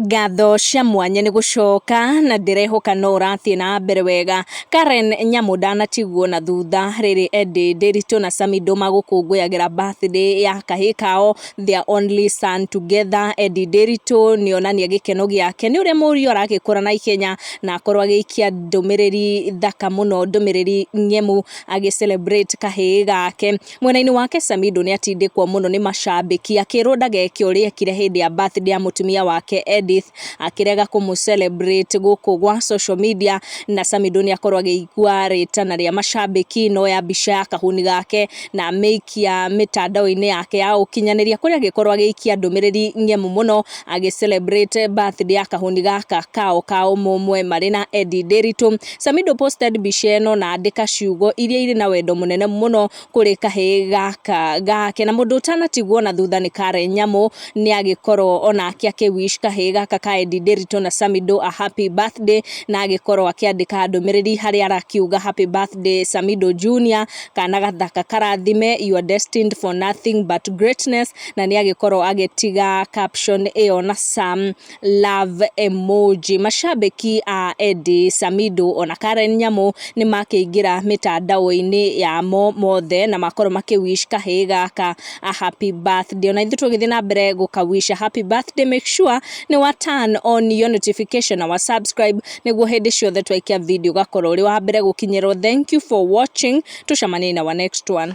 Ngatho cia mwanya nĩ gũcoka na ndĩrehoka no ũrathiĩ na mbere wega. Karen Nyamu ndanatigwo na thutha rĩrĩ Eddie Ndiritu na Samido magũkũngũyagĩra birthday ya kahĩ kao their only son together. Eddie Ndiritu nĩ onania gĩkeno gĩake nĩ ũrĩa mũriũ aragĩkũra na ihenya na akorwo agĩikia ndũmĩrĩri thaka mũno, ndũmĩrĩri ng'emu agĩ celebrate kahĩ gake. Mwena-inĩ wake Samido nĩatindĩkwo mũno nĩ macambĩki akĩrwo ndageke ũrĩa ekire hĩndĩ ya birthday ya mũtumia wake Edith akĩrega kũmũ celebrate gũkũ gwa social media na Samido nĩakorwo agĩigua rĩtana rĩa macambĩki noya mbica ya kahuni gake na amĩikia mĩtandao-inĩ yake ya ũkinyanĩria kũrĩa agĩkorwo agĩikia ndũmĩrĩri ng'emu mũno agĩ celebrate birthday ya kahuni gaka kao ka ũmũmwe marĩ na Eddie Ndĩritũ Samido posted mbica ĩno na andĩka ciugo iria irĩ na wendo mũnene mũno kũrĩ kahĩĩ gaka gake. Na mũndũ ũtanatigwo na thutha nĩ Karen Nyamu nĩ agĩkorwo onake akĩ wish kahĩĩ gaka ka Eddie Nderitu na Samido a happy birthday na agĩkorwo akĩandĩka ndũmĩrĩri harĩa arakiuga happy birthday Samido Junior, kana gathaka karathime you are destined for nothing but greatness na nĩ agĩkorwo agĩtiga caption ĩyo na Sam. love emoji. Mashabĩki a Eddy Samido ona Karen Nyamu nĩ makĩingĩra mĩtandao-inĩ yamo mothe na makorwo makĩ wish kahĩĩ gaka a happy birthday. Ona ithuĩ tũgĩthiĩ na mbere gũka wish a happy birthday make sure nĩ wa turn on your notification na wa subscribe nĩguo hĩndĩ ciothe twaikia video ũgakorwo ũrĩ wa mbere gũkinyĩrwo. Thank you for watching. Tũcemanie in our next one.